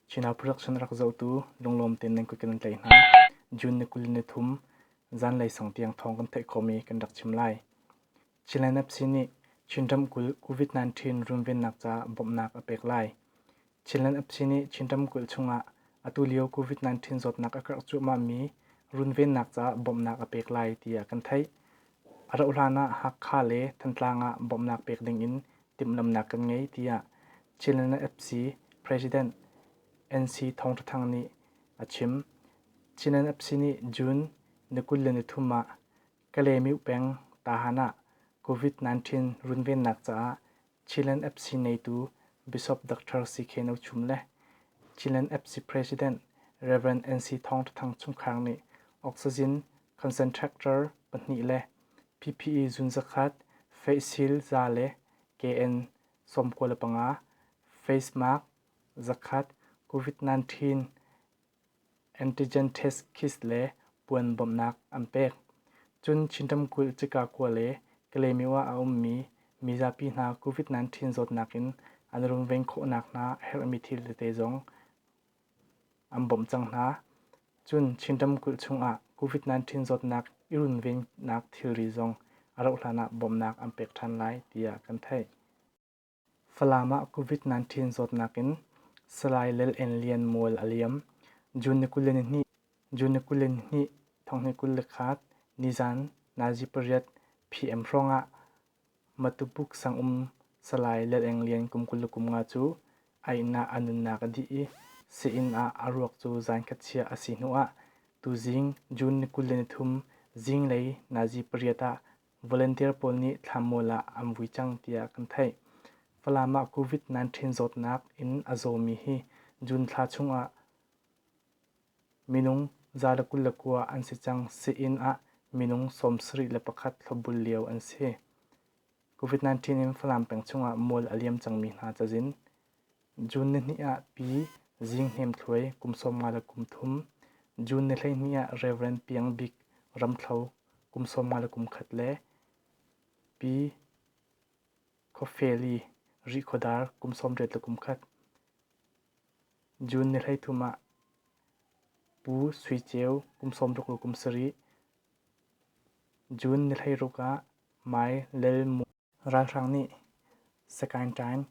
Chinah production rak zohtu lunglawm tein nan kut kan kan tlaih hna. June ni kul ni thum zanlei sung tiang thawng kan theih khawmi kan rak chim lai. Chinland FC nih Chin ramkulh COVID-19 runvennak caah bawmhnak a pek lai. Chinland FC nih Chin ramkulh chungah atulio COVID-19 zawtnak a karh cuahmahmi runvennak caah bawmhnak a pek lai tiah kan theih. A rauhhlan ah Hakha le Thantlang ah bawmhnak pek dingin timhlamhnak kan ngei tiah Chin NFC President NC Thawng Tha Thang nih a chim. Chin NFC nih June ni kul le nithum ah Kalaymyo peng Tahan ah COVID-19 runvennak caah Chin NFC neitu Bishop Doctor CK No Chum le Chin NFC President Rev. NC Thawng Tha Thang chungkhar nih oxygen Concentractor pahnih le PPE zunzakhat, face shield za le KN sawmkua le panga, face mask zakhat, COVID-19 antigen test kit le puan bawmhnak an pek. Cun Chin ramkulh cika kua le Kalymyo ah a ummi mizapi hna COVID-19 zawtnak in an rungveng khawh nakhnga a herhmi thil tete zong an bawmh cang hna. Cun Chin ramkulh chungah COVID-19 zawtnak i runvennak thilri zong a rauh hlanah bawmhnak an pek ṭhan lai tiah kan theih. Falam ah COVID-19 zawtnak in Salai Lal En Lian mual a liam. June ni kul le ni hnih, June ni kul le ni hnih, thonghni kul le khat, nizan nazi pariat PM hrawngah Matupuk sangum salai Laleng Lian kum kul le kum nga cu a inn ah a nunnak a dih i sa-inn ah a ruak cu zaankhat chia a si hnuah tuzing June ni kul le nithum zinglei nazi pariat ah volunteer pawl nih thlanmual ah an vui cang tiah kan theih. Falam ah COVID-19 zawtnak in a zawmi hi June thla chungah Minung zale kul le kua an si cang sii-inn ah minung sawm sarih le pakhat hlawhbul lio an si. COVID-19 in Falam peng chungah mual a liam cangmi hna cazin. June ni hnih ah Pi Zing Hnem Thluai kum sawm nga le kum thum, June ni hleihnih ah Rev. Piang Bik Ramthlo kum sawm nga le kum khat le Pi Khawfeli Rih Khawdar kum sawm riat le kum khat. June ni hleithum ah Pu Sui Ceu kum sawmruk le kum sarih, June ni hleiruk ah Mai Lel Mu ralhrang nih Sagaing Taing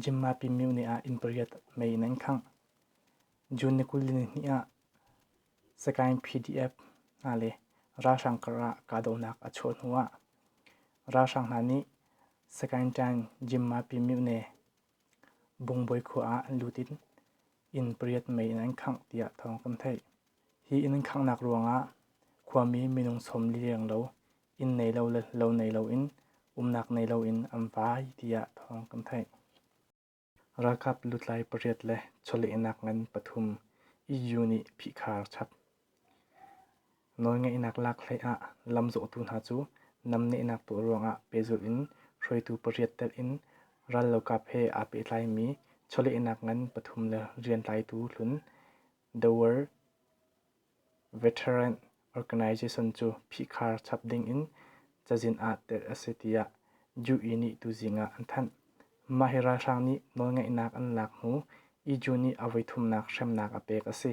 Jimma Pymyo ni ah inn pariat mei in an khangh. June ni kul le ni hnih ah Sagaing PDF hna le ralhrang karah kahdohnak a chuah hnuah ralhrang hna nih Sagaing Taing Jimma Pymyo ne Bungbawi khua ah an lut in inn pariat mei in an khangh tiah thawng kan theih. Hi inn an khanghnak ruangah khuami minung sawm liriang lo, inn nei lo le lo nei loin umnak nei loin an vai tiah thawng kan theih. Ralkap lutlai pariat le chawlehnak ngan pathum EU nih phihkhar chap. Nawlngeihnak lak hlei ah lamzawhtu hna cu namnehnak tuah ruangah pehzulh in hruaitu pariat telh in rallokap he aa pehtlaimi chawlehnak ngan pathum le rian tlaitu hlun The World Veteran Organization cu phihkhar chap ding in cazin ah telh a si tiah UE nih tuzing ah an thanh. Mah hi ralhrang nih nawlngeihnak an lak hnu IJU nih a voithumnak hremnak a pek a si.